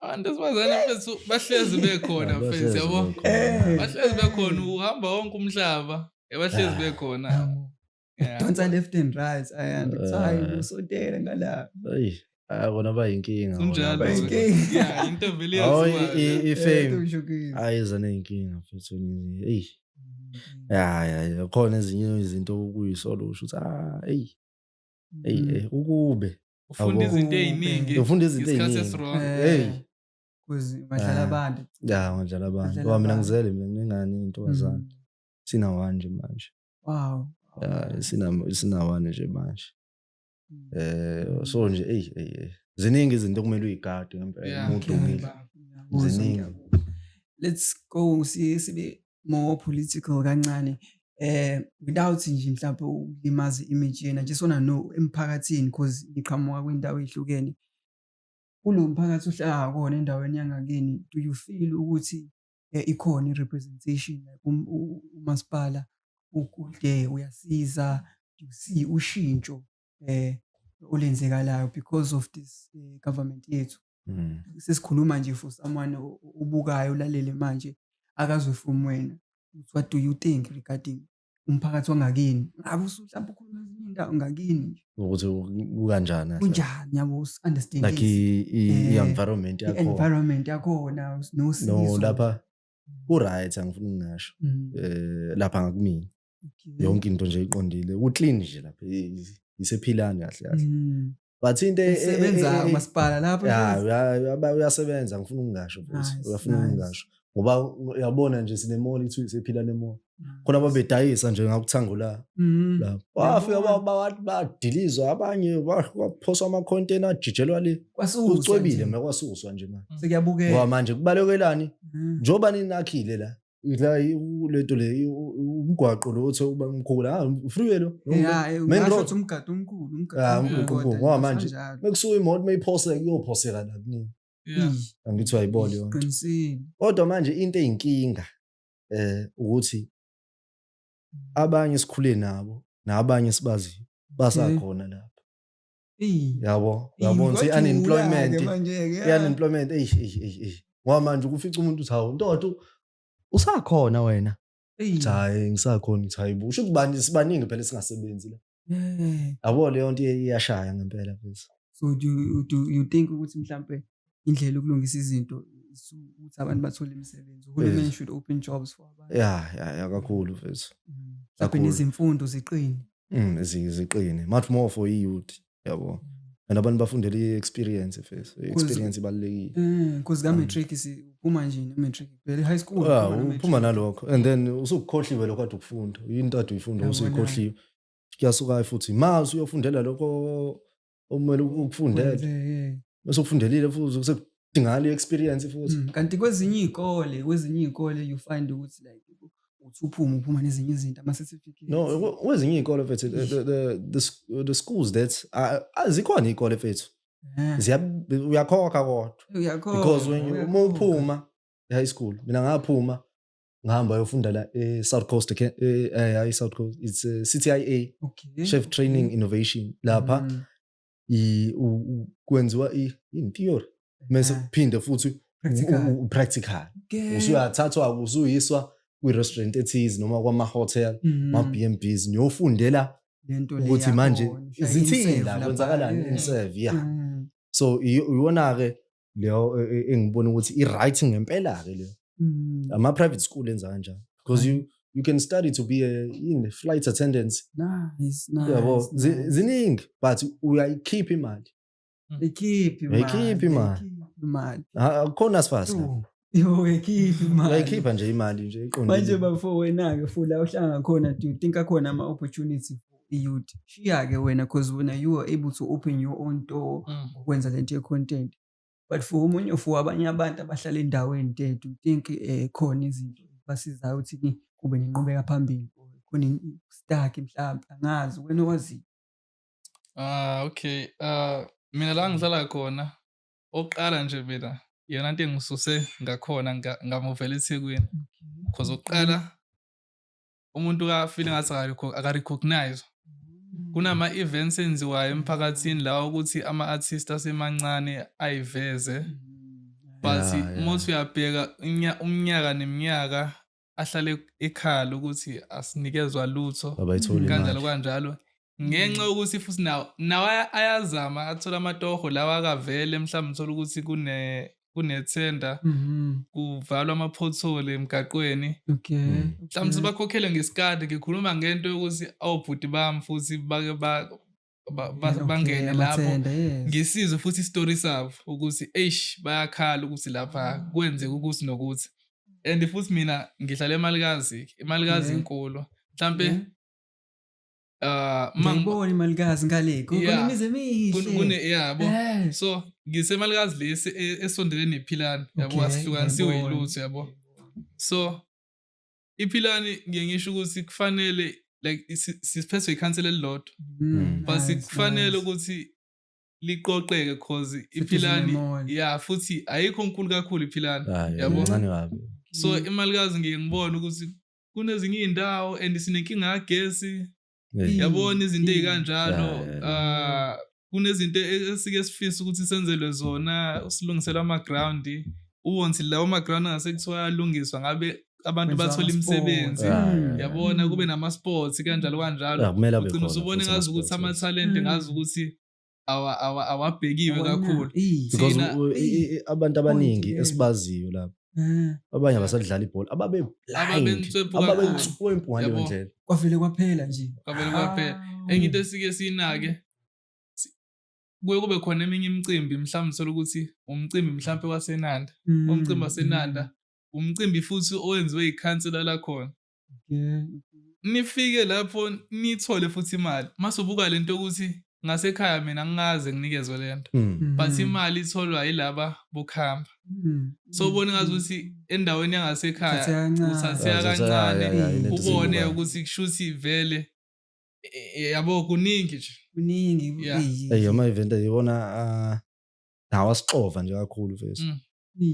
abantu esibazane bethu bahlezi bekhona mfethu yabo bahlezi bekhona uhamba wonke umhlaba ebahlezi ah. bekhona donsa left and right ayandi kuthiwa hayi ah. usotele ngala Ah, kona bayinkinga into vele ifame ayiza neyinkinga futhi eyi mm. ya ya khona ezinye izinto okuyisola usho ukuthi ah eyi eyi mm. eh, ukube ufunda izinto eziningi ufunda izinto eziningi hey kuzi madlala abantu ya madlala abantu ngoba mina ngizele mina ngingani intombazana mm. sina one nje manje wow ya sina sina one nje manje mm. eh so nje hey hey ziningi izinto kumele uyigade ngempela umuntu umile ziningi let's go sibe more political kancane eh without nje mhlawumbe ukulimaza image yena just wanna know emphakathini because ngiqhamuka kwindawo ehlukene kulo mphakathi ohlala kona endaweni yangakini do you feel ukuthi eh, ikhona i-representation like um, umasipala ukude uyasiza you see ushintsho eh olenzekalayo because of this eh, government yethu mm. sesikhuluma nje for someone ubukayo ulalele manje akazwe from wena what do you think regarding umphakathi wangakini ngabe usuhlamba ukhuluma ezinye indawo ngakini nje ukuthi kukanjani kunjani yabo usunderstand like eh, i-environment yakhona environment yakhona nosizo no lapha uright angifuni ngasho mm. eh lapha ngakumina yonke into nje iqondile uclean nje lapha isephilani kahle kahle mm. but into e- e- sebenza e- e- umasipala lapho ya uya- uya- uyasebenza ngifuna ukungasho futhi Nice, uyafuna nice. ukungasho ngoba uyabona nje sinemoli kuthiwa sephila nemoli khona babedayisa nje ngakuthango la Mhm. la wafika Yabona. ba- ba- badilizwa abanye ba- kwaphoswa amacontainer ajijelwa le Kwasuswa kucwebile nje. mekwasuswa nje manje ngoba sekuyabukeka manje kubalekelani Mhm. njengoba ninakhile la la u- lento le i- u- u- umgwaqo lo othi uba mkhulu ah freeway lo Yeah, eh, Main ungasho road. ukuthi umgadi omkhulu Ah, umgadi umgadi omkhulu, omkhulu, kodwa ngoba nje manje- kusanjalo. mekusuka imoto mayiphoseka kuyophoseka la kuningi Yeah. Ih, angithi wayibona yonke qinisile kodwa manje into eyinkinga eh ukuthi abanye sikhule nabo nabanye sibaziyo basakhona lapha yabo yabo nse unemployment unemployment eish eish eish eish ngoba manje ukufica umuntu uthi hawu ntoto usakhona wena hayi ngisakhona uthi hayi busho ukuthi bani sibaningi phela singasebenzi la yabo leyo nto iyashaya ngempela mfethu so do you, do you think ukuthi mhlambe indlela yokulungisa izinto ukuthi abantu bathole imisebenzi uhulumeni should open jobs for abantu ya ya kakhulu mfethu mm. mhlambe nezimfundo ziqine mm zi- ziqine much more for i youth yabo and abantu bafundela i experience first I experience ibalekile Eh, cause ka matric si uma nje ne matric. Vele high school. Ah, uphuma ne uphuma matric. nalokho and then usukukhohliwe lokho kade ukufunda into ade uyifunda Yabona. usuyikhohliwe kuyasuka futhi ma usuyofundela lokho okumele ukufundele Wenze, yeah. bese ufundelile futhi sekudingakala i-experience futhi Mm, kanti kwezinye iy'kole kwezinye iy'kole you find ukuthi like uthi uphuma uphuma nezinye izinto ama-certificate no kwe- kwezinye iy'kole fethu the, the, the, the, sch- the schools that ah, ah, zikhona iy'kole fethu Eh, Ziya- uyakhokha kodwa uyakhona, because when you- uma uyakhokha. uphuma high school mina ngaphuma ngahamba yofunda la e-south coast okay? e, eh, hayi south coast it's uh, ctia okay. chef training mm. innovation lapha mm. i, u, u, kwenziwa i, in theory mese kuphinde futhi practical usuyathathwa usuyiswa kwi-restaurant ethize noma kwama-hotel mm. ma-b and bs niyofundela ukuthi manje zithini la kwenzakalani in serve ya mm. so iwona-ke leyo e, e, engibona ukuthi i-right ngempela-ke leyo mm. ama-private school enza kanjani because you you can study to be a in flight attendant nice, nice, yabo nice. ziningi but uyayikhipha imali mm. ikhipha imali ikhipha imali imali akukhona sifasi yowekhiphi imali uyayikhipha nje imali nje manje iqondile bafo wena-ke fula uhlanga khona do you think akhona ama-opportunity for i-youth shiya-ke wena cause wena you are able to open your own door Mm. ukwenza le nto ye-content but for omunye for abanye abantu abahlala endaweni te do you think um khona izinto basizayo ukuthi ni- kube nenqubeka phambili or khona in- stuck mhlawumbe angazi wena owaziyo Ah, okay. Ah, mina la ngihlala khona oqala nje mina iyona nto engisuse ngakhona ngamuvela ethekwini because oqala umuntu kafile ngathi akarecognize mm. kunama-events enziwayo emphakathini lawa ukuthi ama-artist asemancane ayiveze mm. but yeah, yeah. umuthi uyabheka umnyaka neminyaka ahlale ekhala ukuthi asinikezwa lutho kanjalo kanjalo ngenxa mm. yokuthi futhi nawo nawo ayazama athola amatoho lawa akavele mhlawumbe uthola ukuthi kune kunethenda mm-hmm. kuvalwa ama-pothole emgaqweni okay mm. mhlawumbe sebakhokhele ngesikade ngikhuluma ngento yokuthi awubhuti bami futhi bake bangene lapho ngisizwe futhi isitori sabo ukuthi eish bayakhala ukuthi lapha mm. kwenzeka ukuthi nokuthi and futhi mina ngihlala emalikazi imalikazi inkulu mhlampe uh ngibona imalikazi ngale kunemize emihle kune yabo eh. so ngisemalikazi lesi e, esondelene nephilani yabo asihlukanisiwe yilutho yabo so iphilani ngiye ngisho ukuthi kufanele like siphethwe ikhansela elilodwa mm. but sikufanele ukuthi liqoqeke cause iphilani ya futhi ayikho nkulu kakhulu iphilani ah, yabo so mm. imalikazi ngiye ngibone ukuthi kunezinye iy'ndawo and sinenkinga yagesi yabona izinto ezikanjalo ah kunezinto e-, esike sifisa ukuthi senzelwe zona usilungisela ama ground uwonthi lawo ma ground angase kuthiwa ayalungiswa ngabe abantu bathola imisebenzi yabona kube nama sports kanjalo kanjalo ugcina usubone ngazi ukuthi ama talent ngazi ukuthi awabhekiwe kakhulu because abantu abaningi esibaziyo lapho eh. abanye abasadlala ibhola ababe ababenswempu ngaleyo ndlela kwavele kwaphela nje kwavele kwaphela ah. enye into esike siyinake kuye kube khona eminye imicimbi mhlawumbe uthola ukuthi umcimbi mhlawumpe wasenanda mm, umcimbi wasenanda mm. umcimbi futhi owenziwe ikhansela lakhona nifike lapho nithole futhi imali mase ubuka lento ukuthi ngasekhaya mina ngikaze nginikezwe lento hmm. but hmm. imali itholwa yilaba bokuhamba hmm. so ubone ngazi ukuthi endaweni yangasekhaya uthatheka kancane ubone ukuthi kushuthi vele e, e, yabo kuningi nje kuningi eyo ama event ayibona ah, nawa sixova nje kakhulu mfethu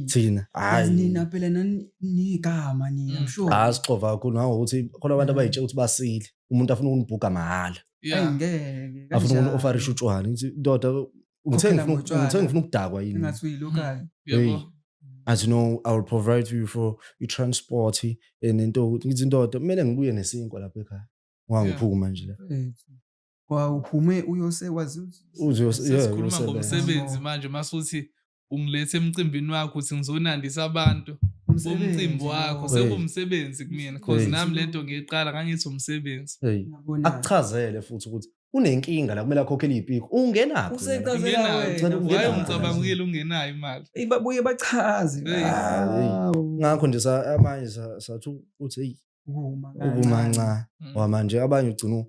thina nina phela nanigama nina mm. msho hayi sixova kakhulu ngawo ukuthi khona abantu abayitshe ukuthi basile umuntu afuna ukunibhuga mahhala ngeke afuna ukunofarisha utshwala ngithi ndoda ngithenge ngithenge ngifuna ukudakwa yini ngathi uyilokale yebo as you know i will provide you for your transport and into ukuthi ngithi ndoda kumele ngibuye nesinkwa lapha ekhaya wangiphuma nje la wawuphume uyose wazi uzosebenza ngomsebenzi manje masuthi ungilethe emcimbini wakho uthi ngizonandisa abantu bomcimbi wakho sekuwumsebenzi kumina cause nami lento ngiyiqala ngangithi umsebenzi akuchazele futhi ukuthi unenkinga la kumele akhokhele iy'piko ungenaphiwaye umcabangile ungenayo imali babuye bachaze ah, ngakho nje amanye sathi uthi eyi ukumanca mm. wamanje abanye ugcina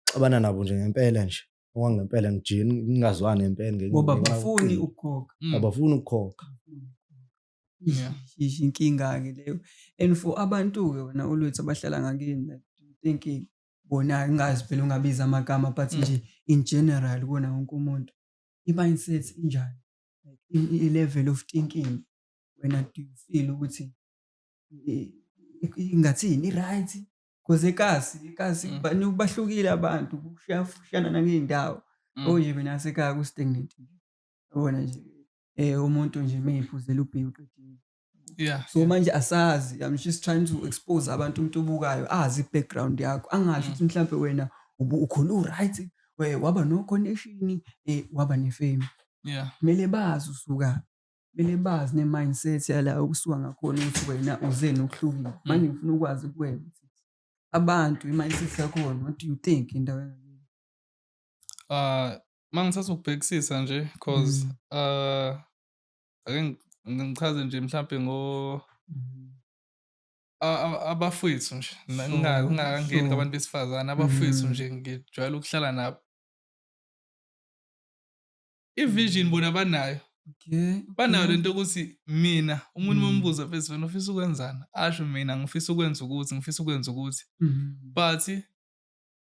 uxabana nabo nje ngempela nje okwangempela ngijini ngingazwani ngempela ngenye ngoba ngenxa abafuni yobuqili. ukukhokha Mm. abafuni ukukhokha Yeah. Yish, inkinga-ke leyo and for abantu-ke wena olwethu abahlala ngakini like, do you think eh, bona ngazi phela ungabiza amagama but Mm. nje in general kuwona wonke umuntu i-mindset injani Like, i- i- i-level of thinking wena do you feel ukuthi eh, i- ingathini i-right Cause ekazi, ekazi mm. bani bahlukile abantu kushiyana nangey'ndawo. Mm. Oje oh, mina sekhaya ku-stagnant nje. Yabona nje eh umuntu nje meyiphuzela ubhewu qedile. Yeah. So manje asazi I'm just trying to expose abantu umuntu obukayo azi background yakho angasho mm. ukuthi mhlambe wena ukhona uright waba no connection eh waba ne fame. Yeah. Kumele bazi usuka kumele bazi ne-mindset yala okusuka ngakhona ukuthi wena uzeni okuhlukile mm. manje ngifuna ukwazi kuwena ukuthi abantu i-mindset yakhona what do you think indawo yangakini um ah, ma ngithatha ukubhekisisa nje because um mm. ah, ake ngichaze nje mhlawumbe ngo mm. abafwethu nje ngingakangeni ngabantu besifazane abafwethu nje ngijwayele ukuhlala nabo ivision bona banayo okay banayo lento ukuthi mina umuntu mm. mombuza phezulu wena ufisa ukwenzani asho mina ngifisa ukwenza ukuthi ngifisa ukwenza ukuthi mm. but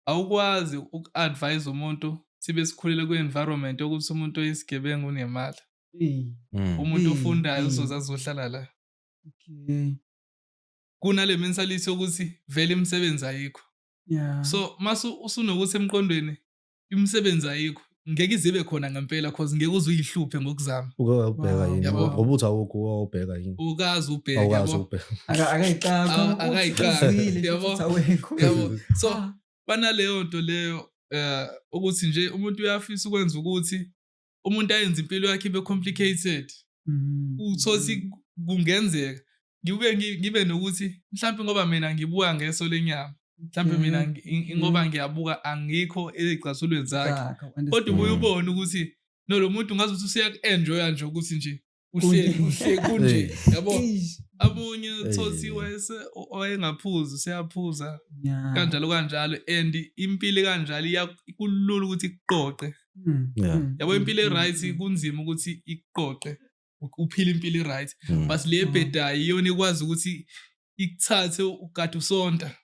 awukwazi uku-advise umuntu sibe sikhulele kwi-environment yokuthi umuntu oyisigebengu unemali mm. umuntu ofundayo uzoze azohlala la okay kunale mentality yokuthi vele imisebenzi ayikho yeah. so mase usunokuthi emqondweni imisebenzi ayikho ngeke izibe khona ngempela cause ngeke uze uyihluphe ngokuzama uke wabheka yini Yabo. ngoba uthi awukho uke wawubheka yini ukazi ubheke awukwazi yabo ukubheka Aka- akayiqali. Awu- akayiqali. Uzwile, Yabo. futhi awekho. yabo so Ah. banaleyo nto leyo eh ukuthi nje umuntu uyafisa ukwenza ukuthi umuntu ayenza impilo yakhe ibe complicated mm. uthothi kungenzeka ngibuke ngibe nokuthi mhlawumbe ngoba mina ngibuka ngeso lenyama mhlawumbe mina mm. ngoba mm. ngiyabuka angikho ezigcasulweni zakhe kodwa ubuye ubone ukuthi no lo muntu ngazuthi useyaku-enjoya nje ukuthi nje uhleli uhleli kunje yabo amunye thothi wayese owayengaphuza useyaphuza kanjalo kanjalo and impilo kanjalo iyakulula ukuthi iqoqe hmm. Hmm. yabo impilo hmm. eright kunzima ukuthi iqoqe uphila impilo eright but le ebhedayo iyona ikwazi ukuthi ikuthathe ukade usonta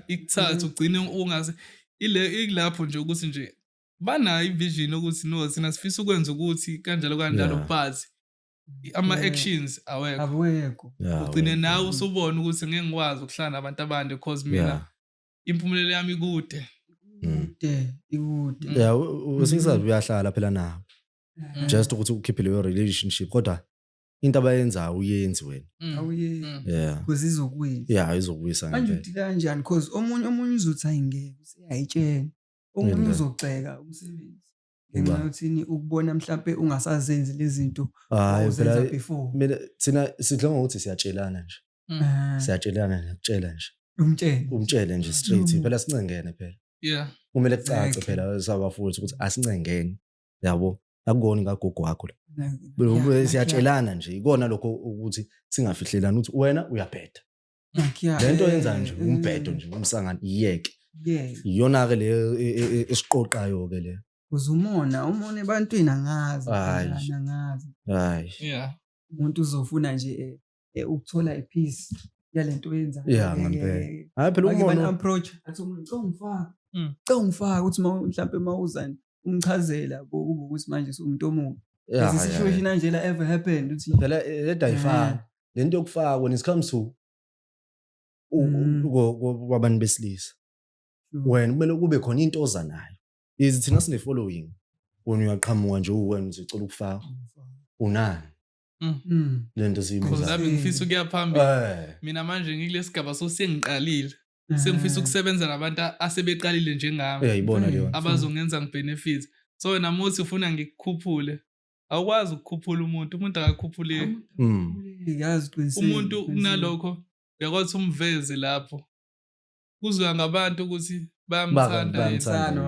ikuthathe ugcine ungaze ilapho nje ukuthi nje banayo ivision ukuthi no sina sifisa ukwenza ukuthi kanjalo kanjalo yeah. but ama-actions awekho awekho ugcine nawe usubona ukuthi ngeke ngikwazi ukuhlala nabantu abande because mina yeah. impumelelo yami ikude mm. ikude ikude mm. ya usisazi uyahlala phela nabo mm. just ukuthi ukhiphe leyo relationship kodwa into abayenzayo uyenzi wena awuyenzi yeah because izokuyisa yeah izokuyisa manje uthi kanjani because omunye omunye uzothi ayingeke useyayitshela omunye uzogxeka umsebenzi ngenxa yothini ukubona mhlampe ungasazenzi lezi zinto awuzenza before mina thina sidla ngokuthi siyatshelana nje mm. ah. siyatshelana nje kutshela nje umtshele umtshele nje straight mm. phela sincengene phela yeah kumele kucace phela sabafuthi ukuthi asincengeni yabo akukona ngagogo wakho la siyatshelana nje ikona lokho ukuthi singafihlelani ukuthi wena uyabheda le nto yenza nje umbhedo nje umsangano iyeke iyona-ke le e, e, e, esiqoqayo-ke le kuze umona umona ebantwini angazi angazi hayi umuntu uzofuna nje ukuthola ipeace yale nto yenzayo ya ngempela hayi phela umona approach athi umuntu cela ungifaka mm. cela ungifaka ukuthi mhlawumbe uma uzani umchazela ukuthi manje siwumuntu omubi lesi situation anjela ever happened ukuthi phela edayifana lento yokufaka when it comes to mm. kwabantu besilisa wena kumele kube khona into oza nayo is thina sine following wena uyaqhamuka nje uwena uzicela ukufaka unani mm. mm. lento siyibuzami ngifisa ukuya phambili eh. mina manje ngikulesigaba so sengiqalile eh. sengifisa ukusebenza nabantu asebeqalile njengami abazongenza ngibenefit so wena muthi ufuna ngikukhuphule awukwazi ukukhuphula umuntu umuntu akakhuphuleki mm. yazi qinisile umuntu kunalokho uyakwazi umveze lapho kuzwa ngabantu ukuthi bayamthanda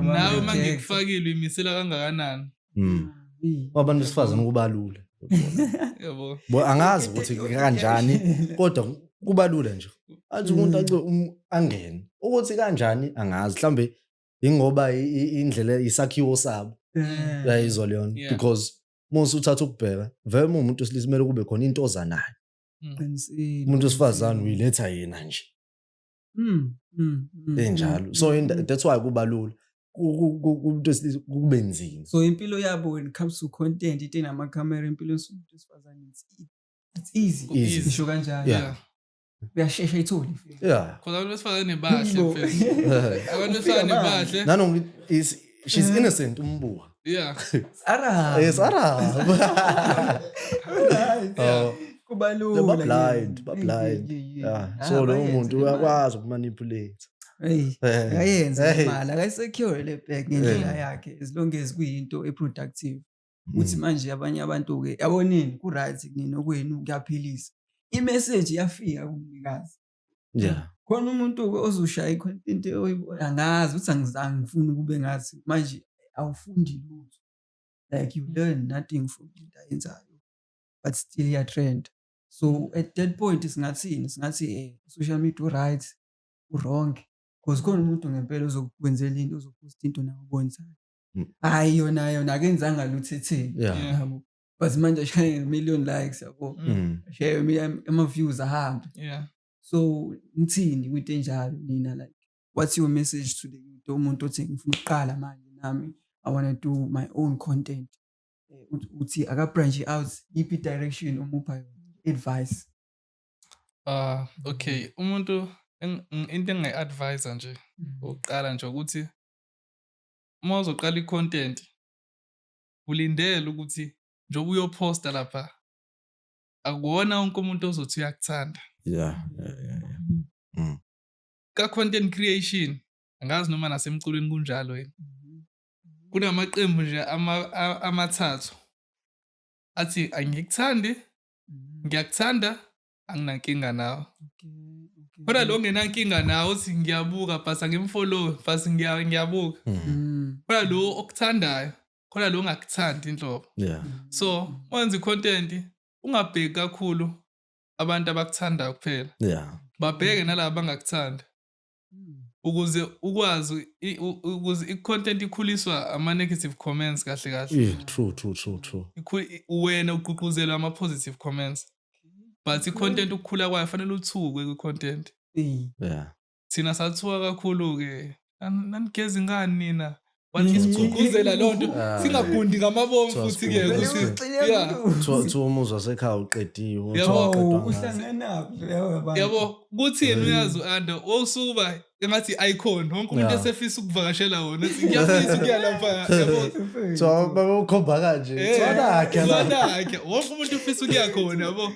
nawe uma ngikufakile uyimisela kangakanani mm. abantu besifazane kubalula yabo angazi ukuthi kanjani kodwa kubalula nje athi umuntu mm. ace um, angene ukuthi kanjani angazi mhlambe ingoba indlela isakhiwo sabo mm. yayizwa leyona because musa uthatha ukubheka vele mumuntu silisa kumele kube khona into oza nayo mm. umuntu wesifazane uyiletha yena nje mm, enjalo so that's why kuba lula kumuntu wesilisa kube nzima so impilo yabo when it comes to content ite namakhamera empilweni somuntu wesifazane it's easy ngisho kanjalo uyashesha ayithole yeah cause abantu besifazane bahle mfethu abantu besifazane bahle nanoma is she's mm. innocent umbuka yeah ara yes ara oh kubalula ba blind ba blind yeah ah, so lo muntu uyakwazi ukumanipulate Hey, eh. akayenza imali, akayisecure le bag ngendlela eh. yakhe as long as kuyinto eproductive. ukuthi mm. manje abanye abantu-ke yabonini ku-right kunina okwenu kuyaphilisa imeseji yafika kumnikazi yeah. khona umuntu-ke ozoshaya i-content angazi ukuthi angizange ngifuni ukube ngathi manje awufundi lutho like you learn nothing from into ayenzayo but still iyatrend so at that point singathini singathi um eh, social media u-right u-wrong because khona umuntu ngempela ozokwenzela into ozophosta into nawe obonisayo Mm. hayi yona yona akenzanga lutho etheni Yeah. Yeah. yabo but manje ashaye million likes yabo Mm. Mm. ashaye ama- ama-views ahambe Yeah. so nithini kwinto enjalo nina like what's your message to the youth umuntu othi ngifuna ukuqala manje nami i wanna do my own content Eh, uthi- uthi akabranch out yiphi direction omupha yona advice Ah, okay. Umuntu eng- ng- into engingayi-advise nje ukuqala nje ukuthi uma uzoqala i-content ulindele ukuthi njengoba uyophosta lapha akuwona wonke umuntu ozothi uyakuthanda yeah, yeah, yeah, yeah. Mm. ka-content creation angazi noma nasemculweni kunjalo yini kunamaqembu nje amathathu athi angikuthandi mm. ngiyakuthanda anginankinga nawo kodwa lo ngenankinga nawo uthi ngiyabuka bhasa ngimfollowe bhasa ngiyabuka hmm. hmm. kodwa lo okuthandayo kodwa lo ongakuthandi inhlobo so wenza i-content ungabheki kakhulu abantu abakuthandayo kuphela babheke nalaba bangakuthandi ukuze ukwazi ukuze i-content ikhuliswa ama-negative comments kahle kahle yeah, true true true true wena ugqugquzelwa ama-positive comments but i-content ukukhula kwayo fanele uthukwe kwi-content yeah. thina sathuka kakhulu-ke nanigeza ingani nina isigqugquzela loo nto ah, singagundi ngamabomu futhi ke ukuthi umuzwa sekhaya uqediwe yabo kuthi yena uyazi u-anda wosuba engathi i-icon wonke umuntu esefisa ukuvakashela wona ngiyafisa ukuya lapha ukhomba kanje sonakhe wonke umuntu ufisa ukuya khona yabo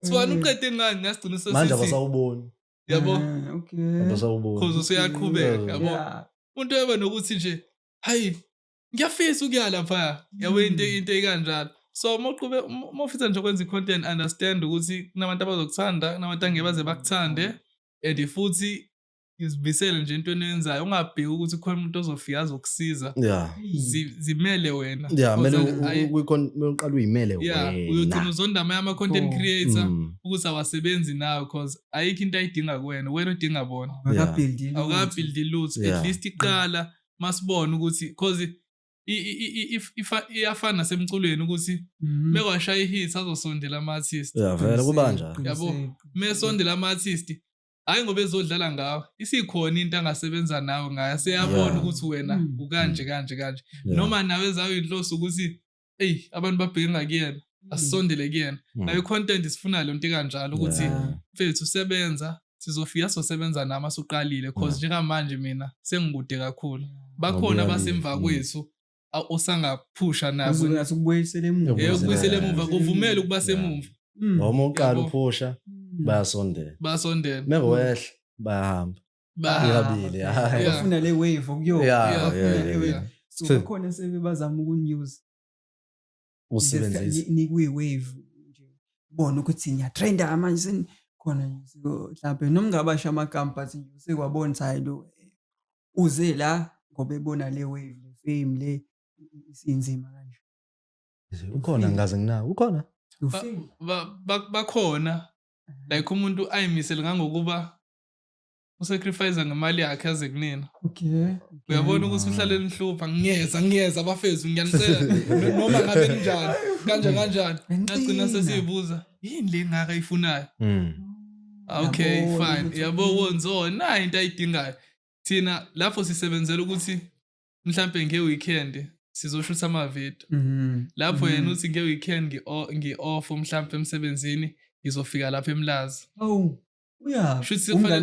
sibani uqede ngani nasigcina sesmanje abasawuboni yabo Ah, okay. Abasawuboni. cause usuyaqhubeka Mm. yabo Yeah. umuntu eba nokuthi nje hayi ngiyafisa ukuya lapha yabo into Mm. into ekanjalo so uma uqhube uma uma ufisa nje ukwenza i-content understand ukuthi kunabantu abazokuthanda kunabantu angeke baze bakuthande and futhi izibisele nje into eniyenzayo ungabheki ukuthi khona umuntu ozofika azokusiza Yeah. Zi- zimele wena Yeah, mele Cause u- u- ayi- uyikhon- mele uqale uyimele yeah, uyogcina wena. uzonda amanye ama-content Oh. creator Mm. ukuthi awasebenzi nawe cause ayikho into ayidinga kuwena wena udinga bona awukabhildi lutho at least iqala masibona ukuthi cause iyafana nasemculweni ukuthi mhm. mekwashaya ihit azosondela ama-artist vele kuba njalo yabo mesondela ama-artist hhayi ngoba ezodlala ngawe isikhona into angasebenza nawe ngayo seyabona ukuthi wena mm. ukanje kanje kanje noma nawe zayo inhloso ukuthi eyi abantu babheke ngakuyena hmm. asisondele kuyena hmm. nayo i-content sifuna le nto ikanjalo ukuthi mfethu sebenza sizofika sosebenza nami asuqalile cause njengamanje mina sengikude kakhulu bakhona abasemva kwethu osangaphusha nazo ngathi ukubuyisela emuva eh ukubuyisela emuva kuvumela ukuba semumva noma uqala uphusha bayasondela bayasondela mengowehla bayahamba bafuna le wave okuyona so kukhona sebebazama ukunews nikuyi-wave nje bona ukuthi ngiyatrenda manje senikhona mhlawumbe noma ngabasha amagama but nje usekwabona ukuthi hayi lo eh, uze la ngoba ebona le wave le fame le isinzima kanje ukhona ngikaze nginawo ukhona bakhona like umuntu ayimisele ngangokuba usacrifice ngemali yakhe aze kunina okay uyabona ukuthi uhlale nihlupha ngiyeza ngiyeza abafezi ngiyanisela noma ngabe kunjani kanje kanjani ngagcina sesiyibuza yini le ngaka ifunayo mm. okay fine yabo wonzo na into ayidingayo thina lapho sisebenzela ukuthi mhlambe nge weekend sizoshutha ama video mm-hmm. lapho yena mm-hmm. uthi nge weekend ngi off mhlambe emsebenzini ngizofika lapha emlazi oh uyaphiuthina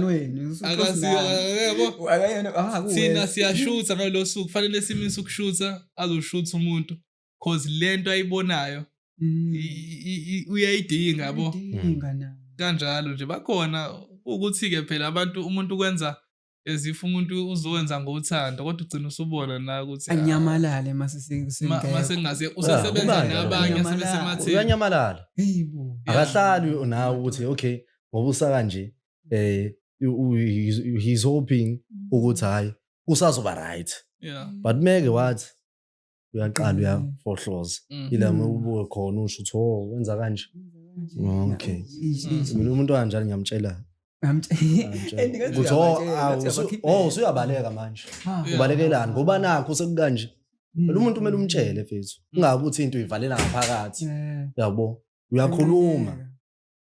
ah, siyashutha ngalolo suku kufanele simise ukushutha azoshutha umuntu cause le nto ayibonayo mm. uyayidinga yabo kanjalo nje bakhona ukuthi-ke phela abantu umuntu ukwenza as if umuntu uzowenza ngothando kodwa ugcina usubona na ukuthi ah, anyamalale mase masengase usesebenza nabanye sebesematheni uyanyamalala hayibo akahlali nawe ukuthi okay ngoba usa kanje eh he's hoping ukuthi hayi usazoba right yeah but meke wathi uyaqala uyafohloza mm. ila mm. ubuke khona usho ukuthi o oh, wenza kanje okay mina umuntu kanjani ngiyamtshela ukuthi o oh, usuyabaleka oh, manje ubalekelani ngoba nakho sekukanje Mm. Phela umuntu kumele umtshele mfethu. Mm. Ungabe ukuthi into uyivalela ngaphakathi. Yabo. Uyakhuluma.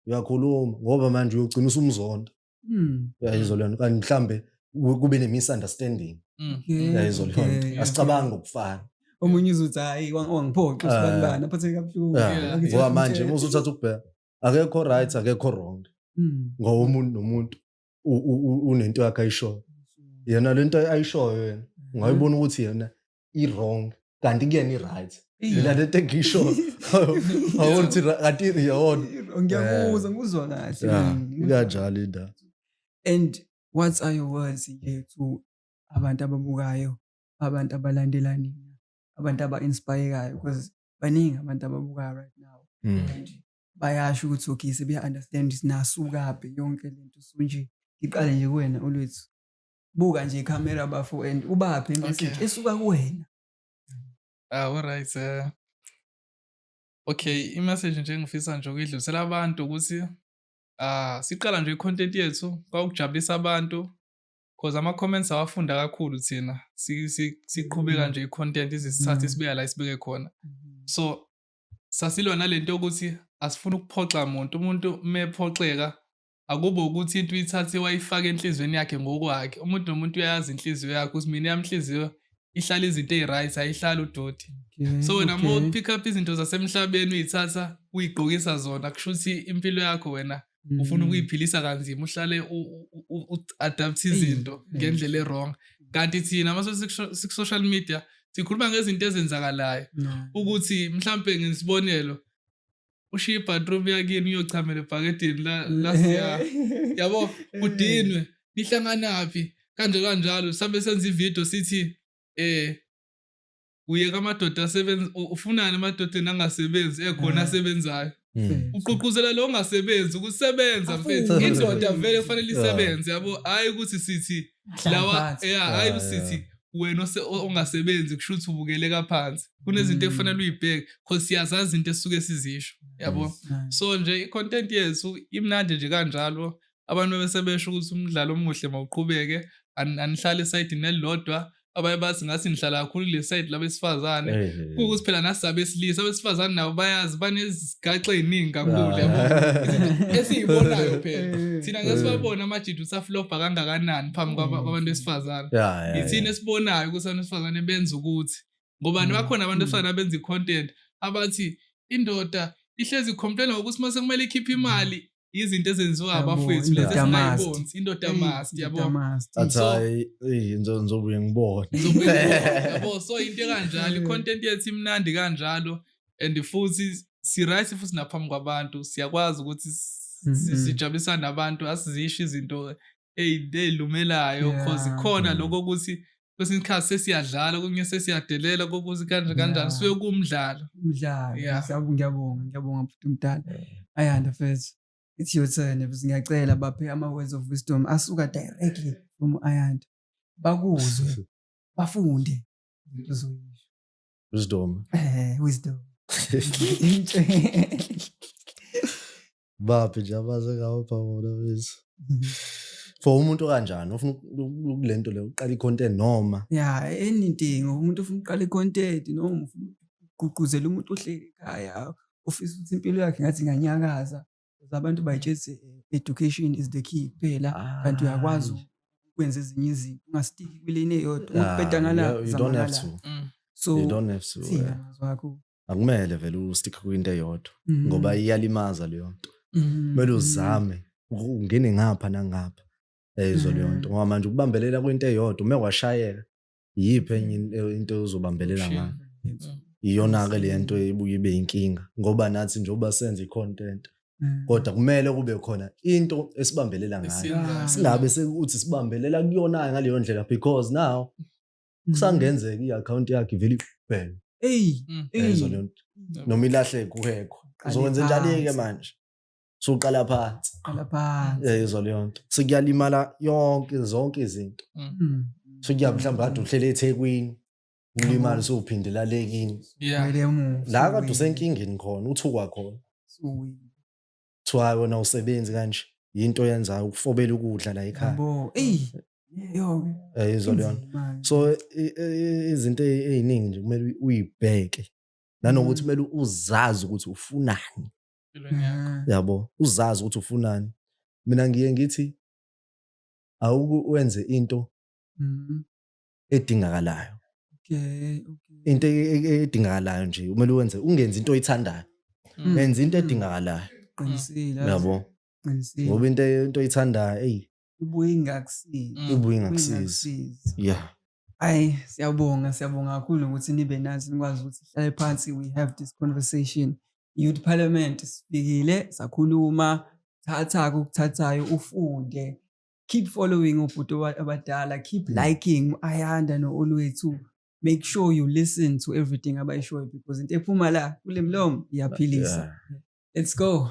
Uyakhuluma ngoba manje uyogcina usumzonda. Mm. uyayizwa leyo nto kanti mhlawumbe ku- kube ne-misunderstanding Mm. Okay, uyayizwa leyo nto okay, asicabangi ngokufana omunye uzothi hayi wang- wangiphoxa Ah. usibanibani aphatheke kabuhlungu Yeah. Yeah. Akuthathe ngoba manje umthetho. muze uthatha ukubheka akekho right akekho wrong Mm. ngoba umuntu nomuntu u- u- u- unento yakhe ayishoyo yena le nto ayishoyo yena ungayibona ukuthi yena i-wrong kanti kuyena i-right mina lento engisho awona ukuthi kanti yona ngiyakuzwa ngikuzwa kahle ikanjalo indaba and what are your words nje to abantu ababukayo abantu abalandela nina abantu aba-inspirekayo because baningi abantu ababukayo right now hmm. and bayasho ukuthi okay sebeya-understand ukuthi nasukaphi yonke lento so nje ngiqale nje kuwena olwethu buka nje ikhamera bafo and ubaphi imessage Okay. esuka kuwena Ah, alright. eh. Okay, i-message nje engifisa nje ukuyidlulisela abantu ukuthi ah siqala nje i-content yethu kwakujabulisa abantu cause ama-comments awafunda kakhulu thina Si- si- siqhubeka nje i-content izisithathe Mm. isibeka la isibeke khona. So sasilwa nalento yokuthi asifuni ukuphoxa muntu. Umuntu mephoxeka Akube ukuthi into uyithathe wayifaka enhlizweni yakhe ngokwakhe. Umuntu nomuntu uyayazi inhliziyo yakhe ukuthi mina yami inhliziyo ihlala izinto eyi-right ayihlali udoti. So wena uma Okay. upick up izinto zasemhlabeni uyithatha uyigqokisa zona kusho ukuthi impilo yakho wena ufuna Mm. ukuyiphilisa kanzima uhlale u- u- u- u-adapt izinto Eyi, ngendlela erong kanti thina uma sikusho- siku-social media sikhuluma ngezinto ezenzakalayo No. ukuthi mhlampe ngesibonelo ushiye ibathroom yakini uyochamela ebhakedini lasiya yabo kudinwe nihlanganaphi kanje kanjalo sabe senza ivideo sithi eh uyeka amadoda asebenza ufunani emadodeni angasebenzi ekhona mm. asebenzayo mm. ugqugquzela lo ongasebenzi ukusebenza mfethu indoda vele kufanele isebenze yabo hhayi ukuthi sithi lawa ya hayi usithi wena ongasebenzi kusho ukuthi ubukeleka phansi kunezinto mm. ekufanele uyibheke cause siyazazi into esuke sizisho yabo so nje i-content yethu imnandi nje kanjalo abantu bese besho ukuthi umdlalo omuhle mawuqhubeke anihlale esayidini elilodwa abanye bathi ngathi nihlala kakhulu kule sayidi labesifazane kuwukuthi phela nasizabesilisa abesifazane nabo bayazi gaxa eyiningi kakhulu yabo esiyibonayo phela thina ngeke sibabone amajidi usaflobha kangakanani phambi kwabantu besifazane yithina esibonayo ukuthi abantu besifazane benza ukuthi ngoba bakhona abantu besifazane abenza i-content abathi indoda ihlezi complain ngokuthi uma sekumele ikhiphe imali izinto ezenziwa abafowethu lezi esingayibonzi indoda eh, must yabo athi hayi eh, ngizobuye ngibone yabo so into kanjalo eh. i-content yethu imnandi kanjalo and futhi si-right futhi naphambi kwabantu siyakwazi ukuthi sijabulisana nabantu asizisho izinto eyilumelayo cause khona mm. lokho ukuthi kwesinye isikhathi sesiyadlala kunye sesiyadelela kokuthi kanje kanjani suke kumdlalo mdlalo ngiyabonga ngiyabonga futhi umdala ayanda fethu it's your turn futhi ngiyacela baphe ama-words of wisdom asuka directly from ayanda bakuzwe bafunde into zoyisho wisdom eh wisdom baphi nje abaze ngawo phamona bese mhm. for umuntu okanjani ufuna kule nto le uqala i-content noma ya anything umuntu ufuna uqala i-content noma ufuna ugqugquzela umuntu ohleli ekhaya ufisa ukuthi impilo yakhe ngathi inganyakaza abantu bayitshezi education is the key kuphela kanti uyakwazi ukwenza ezinye izinto ungasitiki kwileni eyodwa ukubheda ngala mm. so you don't have to eh. wakho akumele vele ustick kwinto eyodwa mm. ngoba iyalimaza leyo nto mm. kumele uzame ungene ngapha nangapha ezo leyo nto mm. ngoba manje ukubambelela kwinto eyodwa uma kwashayeka yiphi enye into ozobambelela ngayo iyona-ke le nto ebuye ibe yinkinga ngoba nathi njengoba senza i-content kodwa kumele kube khona into esibambelela ngayo singabe sekuthi sibambelela kuyona-ke ngaleyo ndlela because now Mm. kusangenzeka i-akhawunti yakhe ivele ibhele eyi Mm. eyi. yayizwa leyo nto noma ilahleke kuhekho Qale uzokwenza njani-ke phansi. manje suqala phansi Qala phansi. yayizwa leyo nto sekuyalimala yonke zonke izinto Mm. sekuya mhlawumbe kade uhlele ethekwini ulimali sowuphindela le kini Yeah. Kumele umufi, la kade uwine, usenkingeni khona uthukwa khona uwine. kuthiwa "Hayi, wena usebenzi kanje yinto oyenzayo ukufobela ukudla la ekhaya Yabo, eyi, yo, Eh, izwa leyona inzima. so i- i- izinto ey- ey'ningi nje kumele uyi- uyibheke nanokuthi Mm. kumele uzazi ukuthi ufunani empilweni yakho Ah, yabo uzazi ukuthi ufunani mina ngiye ngithi awuku wenze into mm, edingakalayo okay into e-, e-, edingakalayo nje kumele wenze ungenzi into oyithandayo mm. wenza into edingakalayo qinisile yabo qinisile ngoba into into oyithandayo hey ibuye ingakusizi mm. ibuye ingakusizi yeah Ayi siyabonga siyabonga kakhulu ukuthi nibe nazi nikwazi ukuthi sihlale phansi we have this conversation youth parliament sifikile sakhuluma thatha kokuthathayo ufunde keep following obhuti abadala keep mm. liking ayanda no-olwethu make sure you listen to everything abayishoyo because into ephuma la kule mlomo iyaphilisa let's go